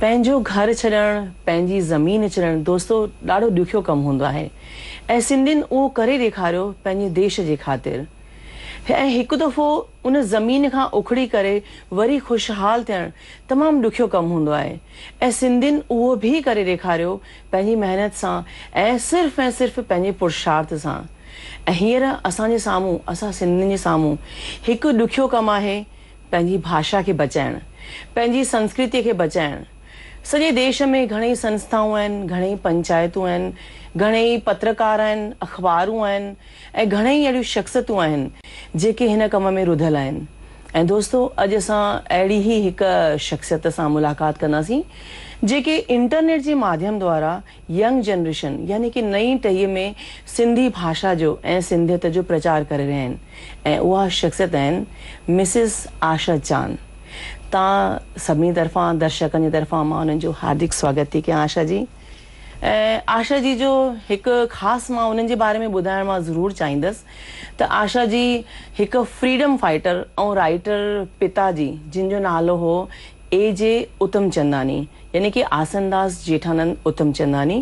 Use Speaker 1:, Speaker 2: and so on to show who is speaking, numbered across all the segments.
Speaker 1: پنهنجو گهر ڇڏڻ، پنهنجي زمين ڇڏڻ دوستو ڏاڍو ڏکيو ڪم هوندو آهي ۽ سنڌين اهو ڪري ڏيکاريو پنهنجي ديش جي خاطر ۽ هڪ دفعو ان زمين کان اکڙي ڪري وري خوشحال ٿيڻ تمام ڏکيو ڪم هوندو آهي ۽ سنڌين اهو به ڪري ڏيکاريو پنهنجي محنت سان ۽ صرف ۽ صرف پنهنجي پرشارٿ سان ۽ هينئر اسان جي سامهون اسان سنڌين جي سامهون هڪ ڏکيو ڪم آهي پنهنجي ڀاشا کي بچائڻ، پنهنجي سنسڪرتيء کي بچائڻ سڄي ديش ۾ گهڻيئي سنسٿائون آهن، گهڻيئي پنچائتون آهن، گهڻيئي پترڪار آهن، اخبارون آهن ۽ گهڻيئي اهڙيون شخصيتون آهن جيڪي هن ڪم ۾ رڌل آهن ۽ دوستو اڄ اسان اهڙي ئي هڪ شخصيت سان ملاقات ڪنداسين جيڪي انٽرنيٽ جي ماڌيم دوارا ينگ جنريشن يعني ڪي نئين ٽهيء ۾ سنڌي ڀاشا جو ۽ سنڌيت جو پرچار ڪري رهيا آهن ۽ اها شخصيت آهن مسز آشا چان تان سڀني طرفان درشڪن جي طرفان مان انهن جو هاردڪ سواگت ٿي ڪيان آشا جي ۽ آشا جي جو هڪ خاص مان انهن جي باري ۾ ٻڌائڻ مان ضرور چاهيندس ته آشا جي هڪ فريڊم فائيٽر ۽ رائيٽر پتا جي جن جو نالو هو اي جي اتمچنداني يعني ڪي آسنداس جيٺانند اتمچنداني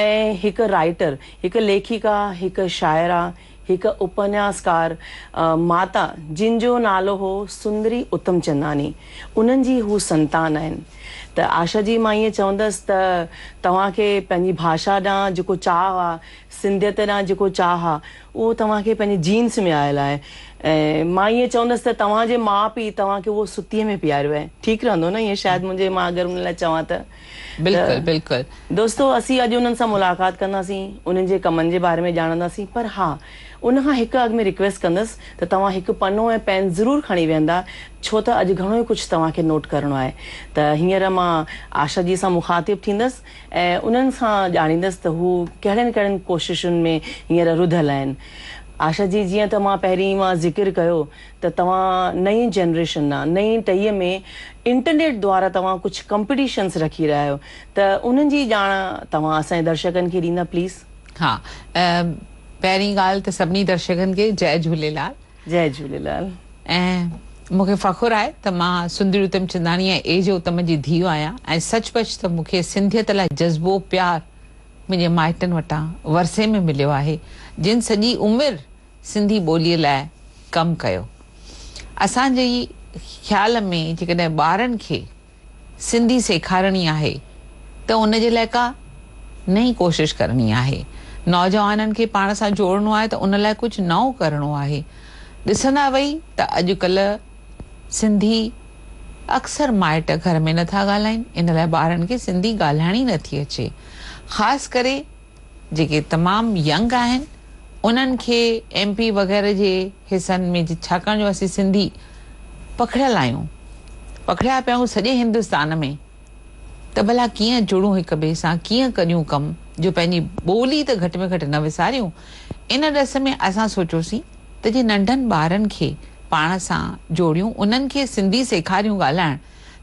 Speaker 1: ۽ هڪ رائيٽر، هڪ ليکڪا، هڪ شاعره، هڪ اپنياسڪار ماتا جن جو نالو هو سندري اتمچنداني انهن جي هو سنتان آهن ته آشا جي مان ائين چوندس ته توهان کي پنهنجي ڀاشا ڏانهن جيڪو چاهه آ، سنڌيت ڏانهن جيڪو چاهه آ اهو توهان کي پنهنجي جينز ۾ آيل آهي ۽ مان ائين چوندس ته توهان جي ماء پيء توهان کي اهو ستيء ۾ پياريو آهي. ٺيڪ رهندو نه ائين شايد منهنجي مان اگر انهن لاء چوان ته. ته بلڪل بلڪل.
Speaker 2: دوستو اسين اڄ
Speaker 1: انهن سان ملاقات ڪنداسين انهن جي ڪمن جي باري ۾ ڄاڻنداسين پر ها ان کان هڪ اڳ ۾ رڪويسٽ ڪندس ته توهان هڪ پنو ۽ پين ضرور کڻي ويهندا ڇو ته اڄ گهڻو ئي ڪجهه توهان کي نوٽ ڪرڻو آهي ته هينئر مان آشا جي سان مخاطب ٿيندس. ۽ انهن کان ڄاڻيندس ته هو ڪهڙين ڪهڙين ڪوششن ۾ هينئر رڌل آهن. آشا جي جيئن ته مان پهرين ئي مان ذڪر ڪيو ته توهان نئين جنريشن آ نئين ٽهيء ۾ انٽرنيٽ دوارا توهان ڪجهه ڪمپٽيشنس رکي رهيا آهيو ته انهن جي ڄاڻ توهان اسان جي درشڪن کي ڏيندا پليز. ها
Speaker 2: پهرين ڳالهه ته سڀني درشڪن کي جئه جهوليلال. جئي جهوليلال.
Speaker 1: ۽
Speaker 2: مون کي فخر آهي ته مان سندري اتم چنداڻي ۽ اي جي اتم جي ڌيء آهيان ۽ سچ پچ ته مون کي سنڌيت لاء جذبو پيار منهنجي مائٽن وٽان ورثي ۾ مليو آهي جن سڄي عمر سنڌي ٻوليء لاء ڪم ڪيو اسان جي خيال ۾ جيڪڏهن ٻارن کي سنڌي سيکارڻي آهي ته ان جي لاء ڪا نئين ڪوشش ڪرڻي آهي، نوجوانن کي پاڻ سان جوڙڻو آهي ته ان لاء ڪجهه نئون ڪرڻو آهي. ڏسندا وئي ته اڄڪلهه سنڌي اڪثر مائٽ گهر ۾ نٿا ڳالهائين، ان لاء ٻارن کي سنڌي ڳالهائڻ ئي نٿي اچي، خاص ڪري، جيڪي تمام ينگ آهن انهن کي ايم پي وغيره جي حصن ۾ ڇاڪاڻ جو اسين سنڌي پکڙيل آهيون پکڙيا پيا آهيون سڄي هندستان ۾ ته ڀلا ڪيئن جڙون هڪ ٻئي سان ڪيئن ڪريون ڪم جو پنهنجي ٻولي ته گهٽ ۾ گهٽ نه وساريون ان ڏس ۾ اسان سوچيوسين ته جي ننڍن ٻارن کي پاڻ سان جوڙيون انهن کي سنڌي سيکاريون ڳالهائڻ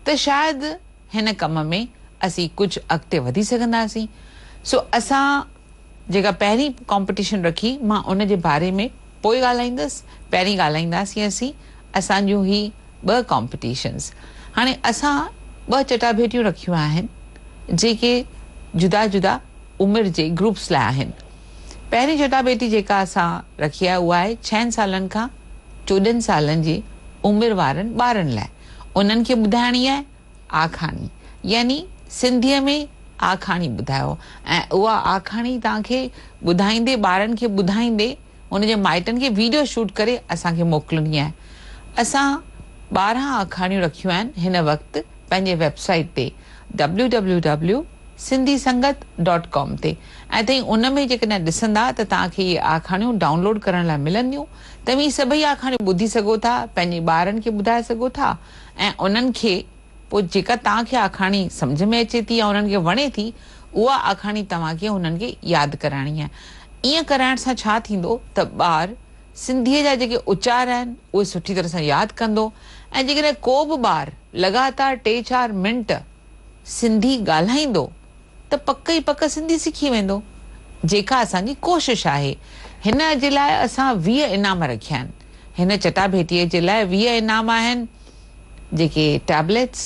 Speaker 2: ته شايد هن ڪم ۾ اسين ڪجهه اڳتي وڌي سگهنداسين سو اسان جيڪا پهرين ڪامپيٽيشن رکي مان ان جي باري ۾ پوء ڳالهائيندس پهرين ڳالهائينداسين اسين اسان جون هي ٻه ڪامپيٽيشنز هاڻي اسان ٻه چٽاڀيٽيون رکيون آهن جيڪي جدا جدا عمر جي گروپس لاء آهن پهرين چٽاڀيٽي جيڪا اسان رکي آهي اها آهي ڇهن سالن کان چوڏهن سالن جي عمر وارن ٻارن لاء انهن کي ٻڌائڻي آهي آکاڻي يعني سنڌيء ۾ آکاڻي ٻڌايو ۽ اها آکاڻي توهان کي ٻڌائيندي ٻارن کي ٻڌائيندي ان جي مائٽن کي ويڊيو شوٽ ڪري اسان کي موڪلڻي آهي اسان ٻارهن آکاڻيون رکيون آهن هن وقت پنهنجي ويب سائيٽ تي www Sindhi Sangat dot com تي ۽ تائين ان ۾ جيڪڏهن ڏسندا ته توهان کي اهي آکاڻيون ڊائونلوڊ ڪرڻ لاء ملنديون توهين هي سڀئي آکاڻيون ٻڌي سگهو ٿا، پنهنجي ٻارن کي ٻڌائي سگهو ٿا ۽ انهن کي پوء جيڪا توهان کي آکاڻي سمجهه ۾ اچي ٿي يا انهن کي وڻي ٿي، اها آکاڻي توهان کي انهن کي ياد ڪرائڻي آهي. ائين ڪرائڻ سان ڇا ٿيندو ته ٻار سنڌيء جا جيڪي اچار آهن، اهي سٺي طرح سان ياد ڪندو ۽ جيڪڏهن ڪو به ٻار لڳاتار ٽي چار منٽ سنڌي ڳالهائيندو، ته پڪ ئي پڪ سنڌي سکي ويندو، جيڪا اسان جي ڪوشش آهي. هن جي لاء اسان ويهه انعام رکيا آهن. هن چٽاڀيٽيء جي لاء ويهه انعام آهن، جيڪي ٽيبليٽس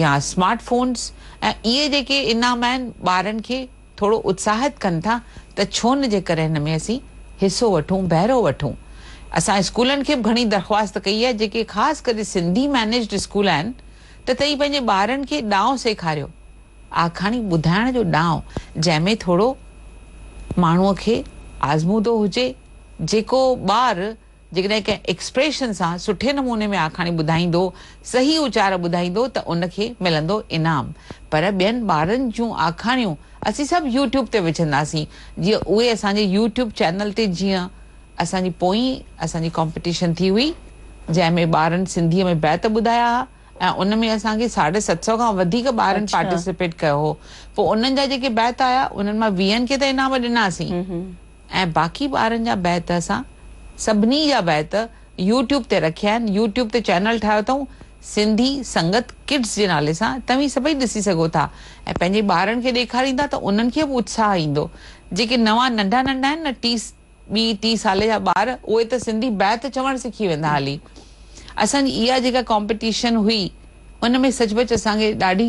Speaker 2: يا سمارٽ فونز ۽ اهي جيڪي انعام آهن، ٻارن کي ٿورو اتساهت ڪن ٿا ته ڇو نه جيڪر هن ۾ اسين حصو وٺون، بهرو وٺون. اسان اسڪولن کي به گهڻي درخواست ڪئي آهي، جيڪي خاص ڪري سنڌي مينيجڊ اسڪول آهن ته توهين پنهنجي ٻارن کي ڏانء سيکاريو. آکاڻي ٻڌائڻ جو ڏانء جنهن ۾ ٿورو ماڻهوء کي آزمودو هجي، جيڪو ٻار جيڪڏهن ڪنهن ايڪسپريشن سان سٺي نموني ۾ آکاڻي ٻڌائيندو، صحيح اچار ٻڌائيندو ته ان کي ملندو انعام. پر ٻين ٻارن جون آکاڻيون اسين سڀ يوٽيوب تي وجهنداسين جيئن اهي اسان جي يوٽيوب چينل تي جيئن اسان جي پوئين اسان جي ڪامپيٽيشن ٿي هئي جنهن ۾ ٻارن سنڌيء ۾ بيت ٻڌايا ها، ۽ ان ۾ اسان کي ساڍي ست سئو کان وڌيڪ ٻارن پارٽيسپيٽ ڪيو هو پوء انهن جا جيڪي بيت آيا انهن مان ويهن کي ته انعام ڏناسين ۽ باقي ٻارن جا بيت اسان سڀني جا بيت يوٽيوب تي رکيا آهن يوٽيوب تي چينل ٺاهيو اٿئون سنڌي سنگت ڪڊس جي نالي سان توهين سڀئي ڏسي سگهو ٿا ۽ پنهنجي ٻارن کي ڏيکاريندا ته انهن کي به اتساهه ايندو جيڪي نوان ننڍا ننڍا آهن نه ٽي ٻي ٽي سالي جا ٻار اهي ته سنڌي بيت چوڻ سکي ويندا هلي اسان جي اها جيڪا ڪامپيٽيشن هئي ان ۾ سچ پچ اسان کي ڏاڍي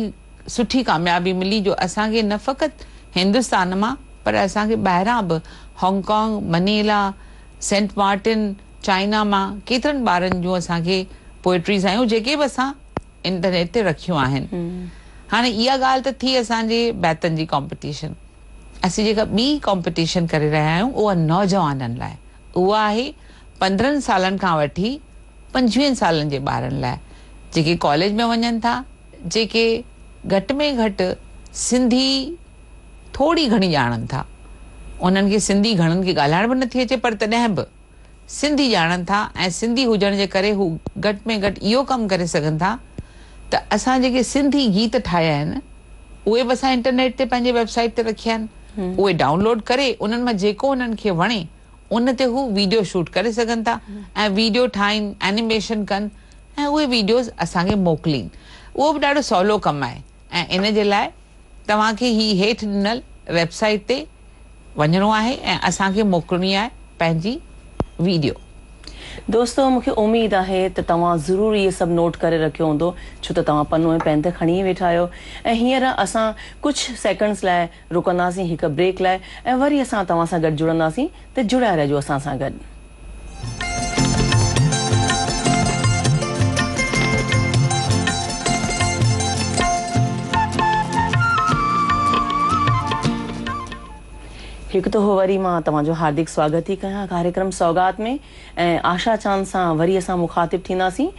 Speaker 2: سٺي ڪاميابي ملي جو اسان کي نه فقط هندستان مان پر اسان کي ٻاهران به Hong Kong Manila Saint Martin China مان ڪيترن ٻارن جون اسان کي پوئٽريز آيون جيڪي به اسان انٽرنيٽ تي رکيون آهن هاڻي اها ڳالهه ته ٿي اسان جي بيتن جي ڪامپيٽيشن اسين جيڪا ٻي ڪامپيٽيشن ڪري رهيا آهيون اها نوجوانن لاء اها آهي پندرهن سالن کان وٺي پنجويهن سالن جي ٻارن لاء جيڪي ڪاليج ۾ وڃن ٿا جيڪي گهٽ ۾ گهٽ سنڌي ٿوري گهڻي ڄاڻن ٿا انهن کي سنڌي گهڻن کي ڳالهائڻ به نٿي اچي پر تڏهن به سنڌي ڄاڻن ٿا ۽ سنڌي هجڻ جي ڪري هو گهٽ ۾ گهٽ اهو ڪم ڪري سگهن ٿا ته اسان جيڪي سنڌي گيت ٺاهيا آهن اهي به اسان انٽرنيٽ تي پنهنجي ويب سائيٽ تي رکيا آهن اهي ڊائون لوڊ ڪري انهن مان جيڪو انهن کي وڻي ان تي هو ويڊيو شوٽ ڪري سگهن ٿا ۽ ويڊيو ٺاهين اينيميشن ڪن ۽ اهي ويڊيوز اسان کي موڪلين اهو به ڏاڍو سولو ڪم آهي. ۽ ان جي لاء توهان کي هي هيٺ ڏنل ويب سائيٽ تي وڃڻو آهي ۽ اسان کي موڪلڻي آهي پنهنجي ويڊيو. دوستو
Speaker 1: مون کي اميد آهي ته توهان ضرور اهي سڀ نوٽ ڪري رکيو هوندو ڇو ته توهان پنو ۽ پين ته کڻي ئي ويٺا آهيو ۽ هينئر اسان ڪجهه سيڪنڊز لاء رڪنداسين هڪ بريڪ لاء ۽ وري اسان توهان سان گڏ جڙنداسين ته جڙيا رهجو اسان سان گڏ. هڪ دفعو وري مان توهان جو هاردڪ سواگت ٿي ڪيان ڪاريڪرم سوغات ۾ ۽ آشا چاند سان وري اسان مخاطب ٿينداسين.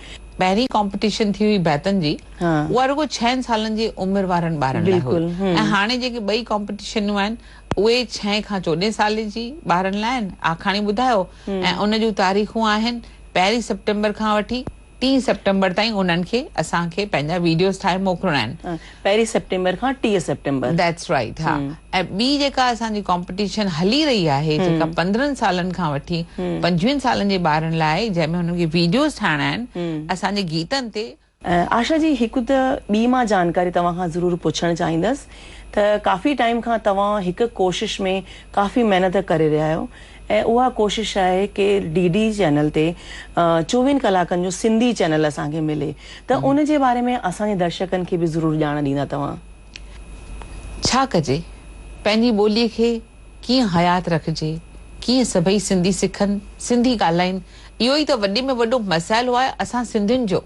Speaker 1: پهرين ڪامپٽيشن
Speaker 2: ٿي هئي بيتن جي اها رڳو ڇهن سالن جي عمر وارن ٻارن لاء هئي ۽ هاڻي جيڪي ٻئي ڪامپٽيشنون آهن اهي ڇهين کان چوڏهين سالين جي ٻارن لاء هن آکاڻي ٻڌايو ۽ ان جون تاريخون آهن پهرين سيپٽمبر کان وٺي ٽي سيپٽمبر تائين انهن کي اسان کي پنهنجا ويڊيوز ٺاهي موڪلڻا آهن. پهرين سيپٽمبر کان ٽيهه سيپٽمبر. That's right ها ۽ ٻي جيڪا اسان جي ڪامپيٽيشن هلي رهي آهي جيڪا پندرهن سالن کان وٺي پنجويهن سالن جي ٻارن لاء جنهن ۾ هنن کي ويڊيوز ٺاهڻا آهن اسان جي گيتن تي آشا جي هڪ ته ٻي مان جانڪاري توهان کان ضرور پڇڻ چاهيندس ته ڪافي ٽائيم کان توهان هڪ ڪوشش ۾ ڪافي محنت ڪري رهيا آهيو ۽ اها ڪوشش آهي ڪي ڊي ڊي چينل تي چووين ڪلاڪن جو سنڌي چينل اسان کي ملي ته ان جي باري ۾ اسان جي درشڪن کي به ضرور ڄاڻ ڏيندا توهان. ڇا ڪجي پنهنجي ٻولي کي ڪيئن حيات رکجي ڪيئن سڀئي سنڌي سکن سنڌي ڳالهائين اهو ئي ته وڏي ۾ وڏو مسئلو آهي اسان سنڌين جو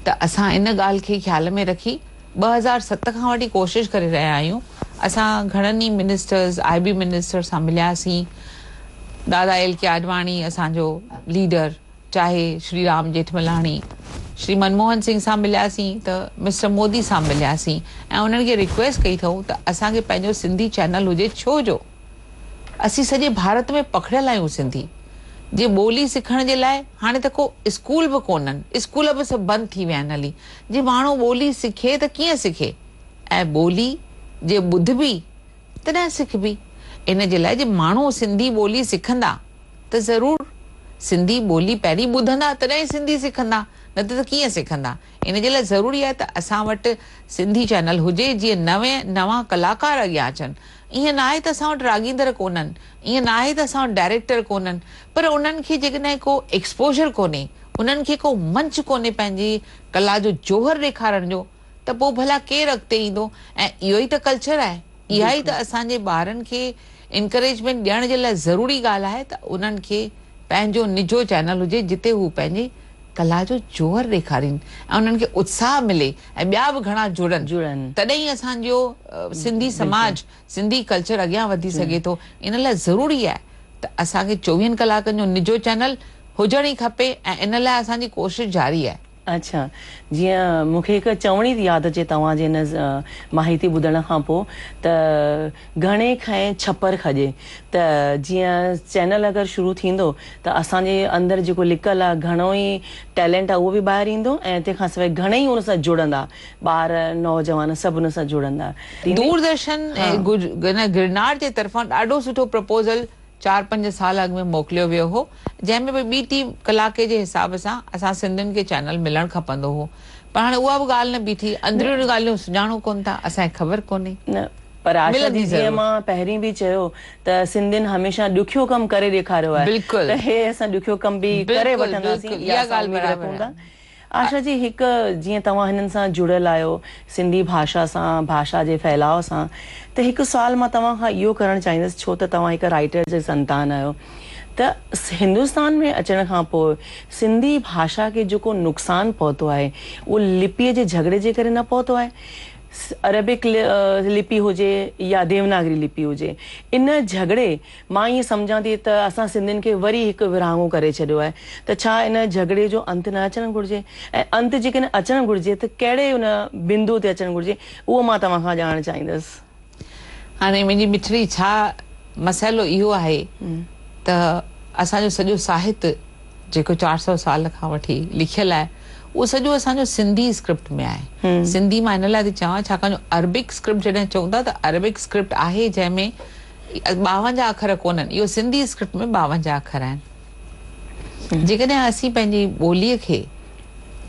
Speaker 2: ته اسان ان ڳالهه کي خيال ۾ رکي ٻه هزار ست کان وٺي ڪوشش ڪري رهيا آهيون اسان گهڻن ئي منسٽرز آء بي منسٽر سان ملياسين دادا ايل ڪي آڏواڻي اسان جو ليڊر چاهي شري رام ڄيٺملاڻي شري منموهن سنگهه سان ملياسين ته مسٽر مودي سان ملياسين ۽ انهن کي رڪويسٽ ڪئي اٿئون ته اسان کي پنهنجو سنڌي چينل هجي ڇو جو اسين سڄي ڀارت ۾ پکڙيل آهيون سنڌي جي ٻولي سکڻ جي لاء هاڻي ته ڪو اسڪول به ڪونهن اسڪول به سڀ بند ٿي ويا آهن هلي جي ماڻهو ٻولي سکي ته ڪيئن سکي ۽ ٻولي جي ٻڌبي تڏهن سکبي ان جي لاء جي ماڻهو سنڌي ٻولي سکندا ته ضرور سنڌي ٻولي پهرين ٻڌندا تڏهن ئي سنڌي سکندا نه ته ته ڪيئن سکندا ان جي لاء ضروري آهي ته اسان وٽ سنڌي چينل هجي جيئن نوين نوان ڪلاڪار اڳيان اچن ائين ناهي ته اسان وٽ راڳيندڙ ڪونهن، ائين ناهي ته اسان وٽ ڊائريڪٽر ڪونهن، پر انهن کي جيڪڏهن ڪو ايڪسپوزر ڪونهي، انهن کي ڪو منچ ڪونهي پنهنجي ڪلا جو جوهر ڏيکارڻ جو ته پوء ڀلا ڪير اڳتي ايندو؟ ۽ اهو ئي ته ڪلچر آهي، اها ئي ته اسان جي ٻارن کي انڪريجمينٽ ڏيڻ جي لاء ضروري ڳالهه آهي ته انهن کي پنهنجو نجو چينل هجي جتي هو پنهنجي ڪلا جو جوهر ڏيکارين ۽ انهن کي اتساهه ملي ۽ ٻيا به گهڻا جڙن تڏهن ئي اسان جو سنڌي سماج سنڌي ڪلچر اڳيان وڌي سگهي ٿو ان لاء ضروري آهي ته اسان کي چوويهن ڪلاڪن جو نجو چينل هجڻ ئي کپي ۽ ان لاء اسان جي ڪوشش جاري آهي. اڇا
Speaker 1: جيئن مونکي هڪ چوڻي ياد اچي توهان جي هن ماهيتي ٻڌڻ کان پوء ته. گهڻي کئين ڇپر کڄي ته جيئن چينل اگر شروع ٿيندو ته اسان جي اندر جيڪو لڪل آ گهڻو ئي ٽيلينٽ آ اهو به ٻاهر ايندو ۽ تنهن کان سواء گهڻئي ان سان جڙندا ٻار نوجوان سڀ ان سان جڙندا. دور درشن
Speaker 2: ۽ گرنار جي طرفان ڏاڍو سٺو پروپوزل. چار پنج سال اڳ ۾ موڪليو ويو هو جنهن ۾ به ٻي ٽي ڪلاڪي جي حساب سان اسان سنڌين کي چينل ملڻ کپندو هو پر هاڻي اها به ڳالهه نه بيٺي اندريون ڳالهيون سڃاڻون ڪون ٿا اسان کي خبر ڪونهي نه پر آشا
Speaker 1: جي جيئن مان پهرين به چيو ته سنڌين هميشه ڏکيو ڪم ڪري ڏيکاريو آهي ته هي اسان
Speaker 2: ڏکيو ڪم
Speaker 1: به ڪري وٺنداسين اها ڳالهه برابر آهي. آشا جي هڪ جيئن توهان هنن سان جڙيل آهيو سنڌي ڀاشا سان ڀاشا جي ڦهلاء سان ته هڪ سوال مان توهان کان اهو ڪرڻ چاهيندس ڇو ته توهان هڪ رائيٽر جي سنتان آهيو ته هندستان ۾ اچڻ کان پوء سنڌي ڀاشا کي جيڪو نقصان پهتو آهي اهو لپيء جي جهڳڙي جي ڪري نه پهتو آهي عربڪ لپي هجي يا ديوناگري لپي هجي ان جهڳڙي مان ائين سمجهان ٿي ته اسان سنڌين کي وري هڪ ورهاڱو ڪري ڇڏيو آهي ته ڇا ان جهڳڙي جو انت نه اچڻ گهرجي ۽ انت جيڪڏهن اچڻ گهرجي ته ڪهڙي ان بندو تي اچڻ گهرجي اهو مان توهان کان ڄاڻڻ چاهيندس. هاڻي منهنجي
Speaker 2: مٺڙي ڇا مسئلو اهو آهي ته اسان جو سڄو ساهت جيڪو چار سؤ سال کان وٺي لکيل آهي اهو سڄو اسان جو سنڌي اسڪرپٽ ۾ آهي سنڌي مان ان لاء ٿي چوان ڇاڪاڻ جو عربڪ اسڪرپٽ جڏهن چئون ٿا ته عربڪ اسڪرپٽ آهي جنهن ۾ ٻاونجاهه اکر ڪونهن، اهو سنڌي اسڪرپٽ ۾ ٻاونجاهه اکر آهن. جيڪڏهن اسين پنهنجي ٻوليء کي.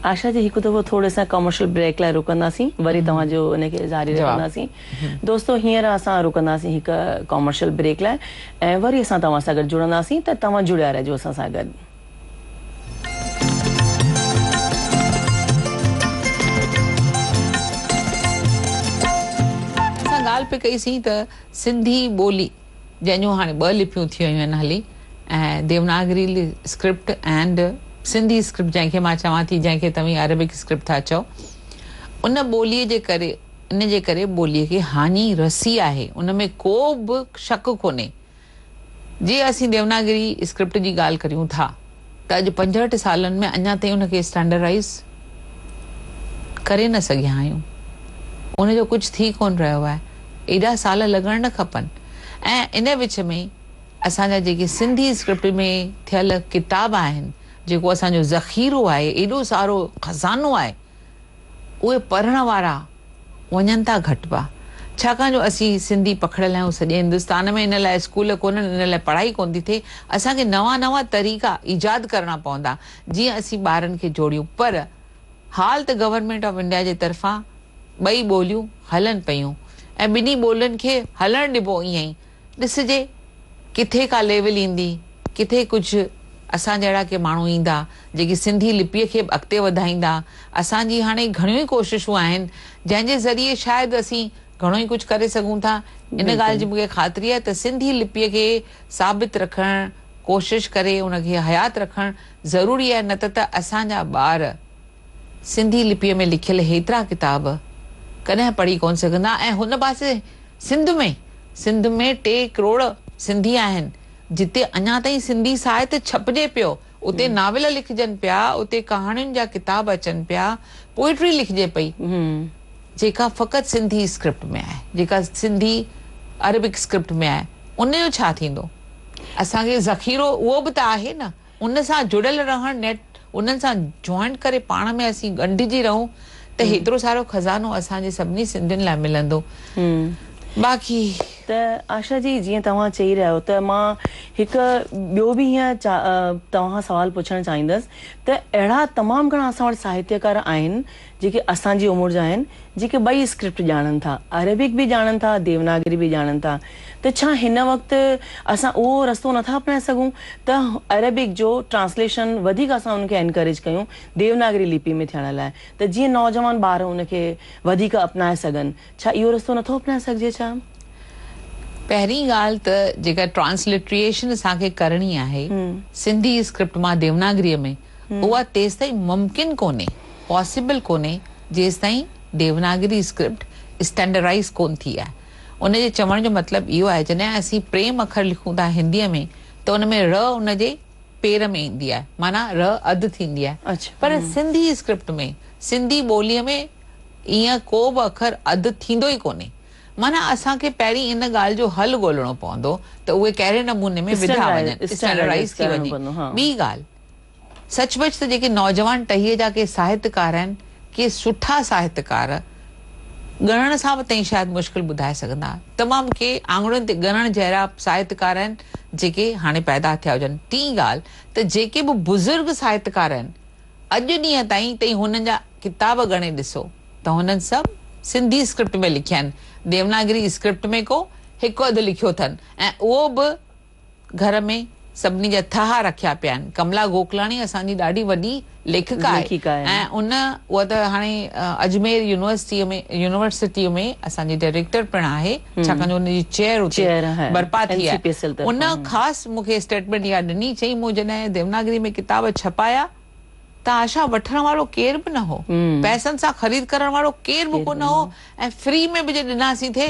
Speaker 2: آشا جي
Speaker 1: هڪ دفعو ٿورڙي اسان ڪامرشل بريڪ لاء رڪنداسين وري توهان جو ان کي جاري رکنداسين دوستو هينئر اسان رڪنداسين هڪ ڪامرشل بريڪ لاء ۽ وري اسان توهان سان گڏ جڙنداسين ته توهان جڙيا رهجو اسان سان گڏ. اسان ڳالهه پئي ڪئي سين ته.
Speaker 2: سنڌي ٻولي جنهن جون هاڻي ٻه لپيون ٿي ويون آهن هلي ۽ Devanagari script and Sindhi script جنهن کي مان چوان ٿي جنهن کي توهين عربڪ اسڪرپٽ ٿا چئو ان ٻولي جي ڪري ان جي ڪري ٻولي کي هاڃي رسي آهي ان ۾ ڪو به شڪ ڪونهي جي اسين ديوناگري اسڪرپٽ جي ڳالهه ڪريون ٿا ته اڄ پنجهٺ سالن ۾ اڃا تائين ان کي اسٽينڊرڊائيز ڪري نه سگهيا آهيون. ان جو ڪجهه ٿي ڪونه رهيو آهي. ايڏا سال لڳڻ نه کپن ۽ ان وچ ۾ اسان جا جيڪي سنڌي اسڪرپٽ ۾ ٿيل ڪتاب آهن، جيڪو اسان جو ذخيرو آهي، ايڏو سارو خزانو آهي، اهي پڙهڻ وارا وڃن ٿا گهٽبا ڇاڪاڻ جو اسين سنڌي پکڙيل آهيون سڄي هندستان ۾ ان لاء اسڪول ڪونهن ان لاء پڙهائي ڪونه ٿي ٿئي اسان کي نوان نوان طريقا ايجاد ڪرڻا پوندا جيئن اسين ٻارن کي جوڙيون پر حال ته گورنمينٽ آف انڊيا جي طرفان ٻئي ٻوليون هلن پيون ۽ ٻنهي ٻولين کي هلڻ ڏبو ائين ئي ڏسجي ڪٿي ڪا ليول ايندي، ڪٿي ڪجهه اسان جهڙا ڪي ماڻهو ايندا، جيڪي سنڌي لپيء کي به اڳتي وڌائيندا. اسان جي هاڻي گهڻيون ئي ڪوششون آهن، جنهن جي ذريعي شايد اسين گهڻو ئي ڪجهه ڪري سگهون ٿا. ان ڳالهه جي مون کي خاطري آهي ته سنڌي لپيء کي ثابت رکڻ، ڪوشش ڪري ان کي حيات رکڻ ضروري آهي، نه ته ته اسان جا ٻار سنڌي لپيء ۾ لکيل هيترا ڪتاب ڪڏهن پڙهي ڪونه سگهندا ۽ هن پاسي سنڌ ۾. سنڌ ۾ ٽي ڪروڙ سنڌي آهن، جتي اڃا تائين سنڌي ساهت ڇپجي پيو، اتي ناول لکجن پيا، اتي ڪهاڻين جا ڪتاب اچن پيا، پوئٽري لکجي پئي، جيڪا فقط سنڌي اسڪرپٽ ۾ آهي، جيڪا سنڌي عربڪ اسڪرپٽ ۾ آهي، ان جو ڇا ٿيندو؟ اسان کي ذخيرو اهو به ته آهي نه. ان سان جڙيل رهڻ نيٺ انهن سان جوائنٽ ڪري پاڻ ۾ اسين ڳنڍجي رهون ته هيترو سارو خزانو اسان جي سڀني سنڌين لاء
Speaker 1: ملندو
Speaker 2: باقي. ته
Speaker 1: آشا جي جيئن توهان چئي رهيا آهيو ته مان هڪ ٻيو به هيئن توهان کان سوال پڇڻ چاهيندس ته اهڙا تمام گهڻا اسان وٽ ساهتيڪار آهن جيڪي اسان جي عمر جا آهن، جيڪي ٻئي اسڪرپٽ ڄاڻن ٿا، عربڪ به ڄاڻن ٿا، ديوناگري به ڄاڻن ٿا ته ڇا هن وقت اسان اهو رستو نٿا اپنائي سگهون ته عربڪ جو ٽرانسليشن وڌيڪ اسان ان کي انڪريج ڪيون ديوناگري لپي ۾ ٿيڻ لاء ته جيئن نوجوان ٻار ان کي وڌيڪ اپنائي سگهن، ڇا اهو رستو نٿو اپنائي سگهجي ڇا؟
Speaker 2: پهرين ڳالهه ته جيڪا ٽرانسلٽريشن اسان کي ڪرڻي آهي سنڌي اسڪرپٽ مان ديوناگريء ۾، اها تيستائين ممڪن ڪونهي، Possible، ڪونهي جيستائين ديوناگري اسڪرپٽ اسٽينڊرائيز ڪونه ٿي آهي. ان جي چوڻ جو مطلب اهو آهي جڏهن اسين پريم اکر لکون ٿا هنديء ۾ ته ان ۾ 'ر' ان جي پير ۾ ايندي آهي معنيٰ 'ر' اڌ ٿيندي آهي پر سنڌي اسڪرپٽ ۾ سنڌي ٻوليء ۾ ايئن ڪو به اکر اڌ ٿيندو ئي ڪونهي معنيٰ اسان کي پهرين ان ڳالهه جو حل ڳولڻو پوندو ته اهي ڪهڙي نموني ۾ وڌا وڃن، اسٽينڊرائيز ٿي وڃي. ٻي ڳالهه. سچ پچ ته جيڪي نوجوان ٽهيء جا ڪي ساهتڪار آهن، ڪي سٺا ساهتڪار، ڳڻڻ سان به تائين شايد مشڪل ٻڌائي سگهندا، تمام ڪي آڱرين تي ڳڻڻ جهڙا ساهتڪار آهن، جيڪي هاڻي پيدا ٿيا هجن. ٽين ڳالهه ته جيڪي به بزرگ ساهتڪار آهن، اڄ ڏينهن تائين تائين هنن جا ڪتاب ڳڻي ڏسو ته هنن سڀ سنڌي اسڪرپٽ ۾ لکيا آهن، ديوناگري اسڪرپٽ ۾ ڪو هڪ اڌ لکيو اٿن ۽ اهو به گهر ۾ سڀني جا ٿهه رکيا پيا آهن. ڪملا گوڪلاڻي اسان جي ڏاڍي وڏي ليکڪا آهي ليکڪا آهي. ۽ ان هوء ته هاڻي اجمير يونيورسٽيء ۾ يونيورسٽيء ۾ اسان جي ڊائريڪٽر پڻ آهي ڇاڪاڻ جو ان جي چيئر اتي چيئر آهي برپا ٿي اين سي آهي. پي ايس ايل ان طرفان. خاص مون کي اسٽيٽمينٽ اها ڏني چيائين مون جڏهن ديوناگري ۾ ڪتاب ڇپايا ته آشا وٺڻ وارو ڪير به نه هو. پئسن سان خريد ڪرڻ وارو ڪير به ڪو نه هو ۽ فري ۾ به جي ڏناسين ٿي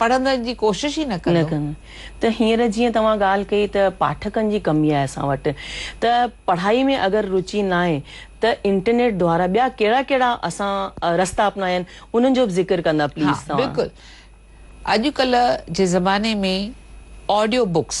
Speaker 2: پڙهندڙن جي ڪوشش ئي نه ڪندو. ته هينئر
Speaker 1: جيئن توهان ڳالهه ڪئي ته پاٺڪن جي ڪمي آهي اسان وٽ ته پڙهائي ۾ اگر روچي ناهي ته انٽرنيٽ دوارا ٻيا ڪهڙا ڪهڙا اسان رستا اپنايا آهن انهن جو به ذڪر ڪندا ها پليز توهان. بلڪل
Speaker 2: اڄ ڪلهه جي زماني ۾ آڊيو بڪس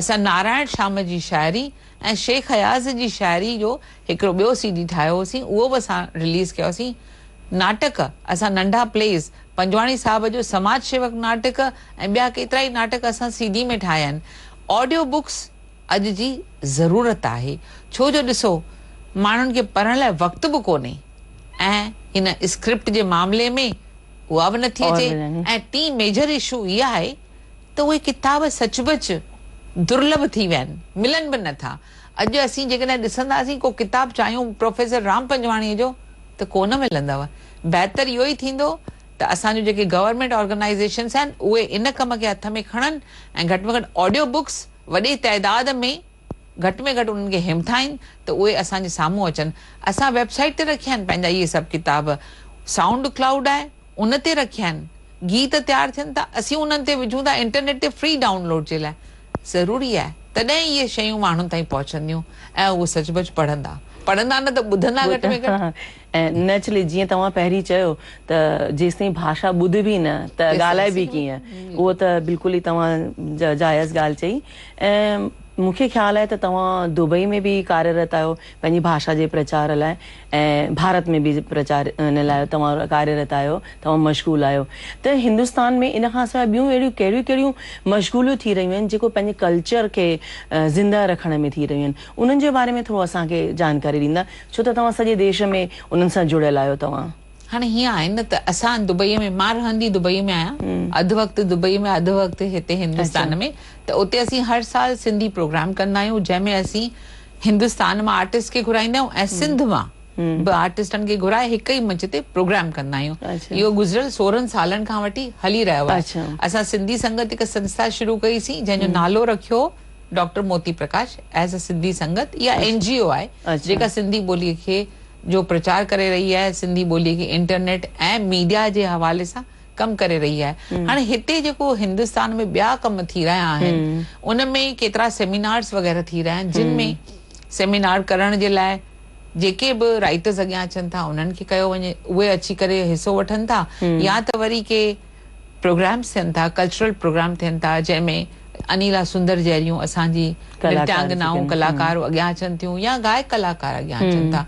Speaker 2: اسان نارائڻ شام جي شاعري ۽ شيخ اياز جي شاعري جو هڪڙو ٻيو سي ڊي ٺاهيو هوسين، اهو به اسان رليز ڪيا هوسين. ناٽڪ، اسان ننڍا پليز، پنجواڻي صاحب جو سماج شيوڪ ناٽڪ ۽ ٻيا ڪيترائي ناٽڪ اسان سي ڊي ۾ ٺاهيا آهن. آڊيو بڪس اڄ جي ضرورت آهي، ڇو جو ڏسو ماڻهن کي پڙهڻ لاء وقت به ڪونهي ۽ هن اسڪرپٽ جي معاملي ۾ اها به نٿي اچي ۽ ٽين ميجر اشو اها آهي، ته اهي ڪتاب سچ پچ درلڀ ٿي ويا آهن، ملن به نه ٿا. اڄ اسين جيڪڏهن ڏسنداسين ڪو ڪتاب چاهيون پروفيسر رام پنجواڻيء جو ته ڪو نه ملندو. بهتر اهو ئي ٿيندو ته اسان جون جيڪي گورنمينٽ آرگنائيزيشنس آهن اهي ان ڪم کي هٿ ۾ کڻن ۽ گهٽ ۾ گهٽ آڊيو بڪس وڏي تعداد ۾ گهٽ ۾ گهٽ انهن کي همٿائين ته اهي اسان جي سامهون اچن. اسان ويب سائيٽ تي رکيا آهن پنهنجا اهي سڀ ڪتاب سائونڊ ڪلائوڊ آهي. ان تي رکيائين گيت تيار ٿين ٿا اسين انهن تي وجهون ٿا انٽرنيٽ تي فري ڊائون لوڊ جي لاء ضروري آهي تڏهن ئي اهي شيون ماڻهن تائين پهچنديون ۽ اهو سچ پچ پڙهندا پڙهندا نه ته ٻڌندا گهٽ ۾ گهٽ. ۽ نيچلي
Speaker 1: جيئن توهان پهرين چيو ته جيستائين ڀاشا ٻڌبي نه ته ڳالهائبي ڪيئن اهو ته بلڪل ئي توهان جائز ڳالهه چئي ۽ مون کي خيال آهي ته توهان دبئي ۾ به ڪاريرت آهيو پنهنجي ڀاشا جي پرچار لاء ۽ ڀارت ۾ به پرچار ان لاء توهان ڪاريرت آهيو، توهان مشغول آهيو ته هندستان ۾ ان کان سواء ٻيون اهڙيون ڪهڙيون ڪهڙيون مشغوليون ٿي رهيون آهن جيڪو پنهنجي ڪلچر کي زنده رکڻ ۾ ٿي رهيون آهن انهن جي باري ۾ ٿورو اسان کي جانڪاري ڏيندا ڇو ته توهان سڄي ديش ۾ انهن سان جڙيل آهيو توهان. هاڻي هيئن آهي نه
Speaker 2: ته اسان دبئيء ۾ مان رهندي دبئيء ۾ آهيان اڌ وقت دبئيء ۾ اڌ وقت هتي هندستان ۾ ته اتي اسين هر سال سنڌي پروگرام ڪندا آهيون جنهن ۾ اسين هندستان مان آرٽسٽ کي گهرائيندا آهيون ۽ سنڌ مان به آرٽسٽن کي گهرائي هڪ ئي منچ تي پروگرام ڪندا آهيون اهو گذريل سورهن سالن کان وٺي هلي رهيو آهي اسان سنڌي سنگت هڪ سنسٿا شروع ڪئي سين جنهن جو نالو رکيو doctor Moti Parkash as a Sindhi Sangat يا اين جي او آهي جيڪا سنڌي ٻولي کي جو پرچار ڪري رهي آهي سنڌي ٻولي کي انٽرنيٽ ۽ ميڊيا جي حوالي سان ڪم ڪري رهي آهي هاڻي هتي جيڪو هندستان ۾ ٻيا ڪم ٿي رهيا آهن ان ۾ ڪيترا سيمينارس وغيره ٿي رهيا آهن جن ۾ سيمينار ڪرڻ جي لاء جيڪي به رائيٽرس اڳيان اچن ٿا انهن کي ڪيو وڃي اهي اچي ڪري حصو وٺن ٿا يا ته وري ڪي پروگرامز ٿين ٿا، ڪلچرل پروگرام ٿين ٿا جنهن ۾ انيلا سندر جهڙيون اسان جي نٽيانگنائون ڪلاڪارو اڳيان اچن ٿيون يا گائڪ ڪلاڪار اڳيان اچن ٿا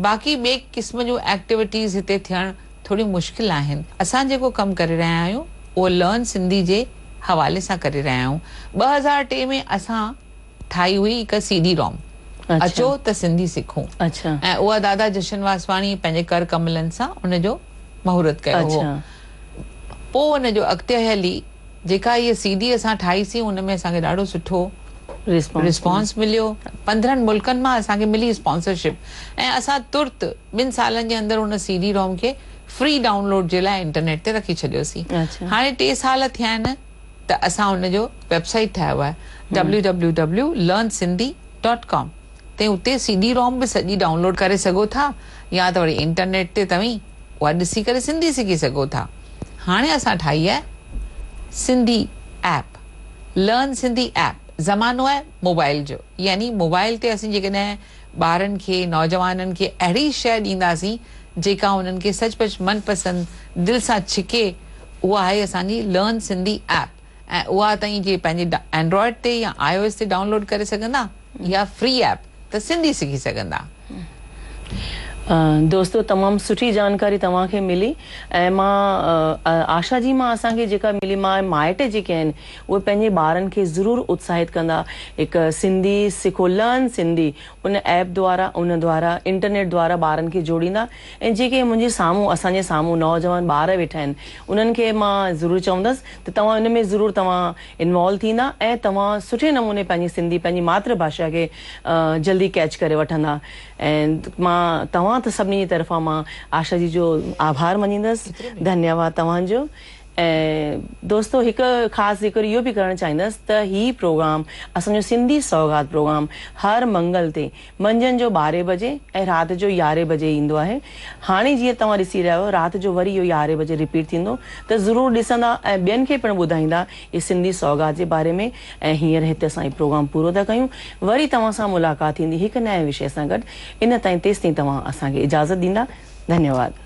Speaker 2: باقي ٻئي قسم جون ايڪٽيوٽيز هتي ٿيڻ ٿوريون مشڪل آهن اسان جيڪو ڪم ڪري رهيا آهيون اهو لرن سنڌي جي حوالي سان ڪري رهيا آهيون ٻه هزار ٽي ۾ اسان ٺاهي هئي هڪ سي ڊي روم اچو ته سنڌي سکون ۽ اها دادا جشن واسواڻي پنهنجي ڪر ڪملن سان ان جو مهورت ڪيو هو پوء ان جو اڳتي هلي جيڪا هيء سي ڊي اسان ٺاهي سي ان ۾ اسان کي ڏاڍو سٺو رسپانس مليو پندرهن ملڪن مان اسان کي ملي اسپانسرشپ ۽ اسان ترت ٻن سالن جي اندر ان سي ڊي روم کي فري ڊائونلوڊ جي لاء انٽرنيٽ تي رکي ڇڏيو سي هاڻي ٽي سال ٿيا آهن ته اسان ان جو ويب سائيٽ ٺاهيو آهي www.learnsindhi ڊاٽ ڪام تي اتي سي ڊي روم به سڄي ڊائون لوڊ ڪري سگهو ٿا يا ته وري انٽرنيٽ تي توهين اها ڏسي ڪري سنڌي سکي سگهو ٿا هاڻي اسان ٺاهي آهي Sindhi app learn Sindhi app زمانو آهي موبائل جو يعني موبائل تي اسين جيڪڏهن ٻارن کي، نوجوانن کي اهڙي شيء ڏينداسين جيڪا انهن کي سچ پچ من پسند دل سان ڇڪي اها آهي اسان جي لرن سنڌي ايپ ۽ اها توهين جي پنهنجي اينڊرائيڊ تي يا آء او ايس تي ڊائونلوڊ ڪري سگهندا اها فري ايپ ته سنڌي سکي سگهندا.
Speaker 1: دوستو تمام سٺي جانڪاري توهان کي ملي ۽ مان آشا جي مان اسان کي جيڪا ملي مان مائٽ جيڪي آهن اهي پنهنجي ٻارن کي ضرور اتساهت ڪندا هڪ سنڌي سکو Learn Sindhi ان ايپ دوارا ان دوارا انٽرنيٽ دوارا ٻارن کي جوڙيندا ۽ جيڪي منهنجي سامهون اسان جي سامهون نوجوان ٻار ويٺا آهن انهن کي مان ضرور چوندس ته توهان ان ۾ ضرور توهان انوالو ٿيندا ۽ توهان سٺي نموني پنهنجي سنڌي پنهنجي ماتر ڀاشا کي جلدي ڪيچ ڪري وٺندا ۽ مان توهان سڀني جي طرفان مان آشا جي جو آڀار مڃيندس ڌنيواد توهان جو. ۽ دوستو هڪ خاص ذڪر اهو به ڪرڻ چاهيندس ته هي پروگرام اسان جو سنڌي سوغات پروگرام هر منگل تي منجهند جو ٻارهين بجي ۽ رات جو يارهين بجي ايندو آهي هاڻي جيئن توهان ڏسي رهيا آهيو رات جو وري اهو يارهين بجي رپيٽ ٿيندو ته ضرور ڏسندا ۽ ٻين کي پڻ ٻڌائيندا هي سنڌي سوغات جي باري ۾ ۽ هينئر هتي اسان هي پروگرام پورو ٿا ڪيون وري توهان سان ملاقات ٿيندي هڪ نئين وشي سان گڏ ان تائين تيستائين توهان اسان کي اجازت ڏيندا
Speaker 2: ڌنيواد.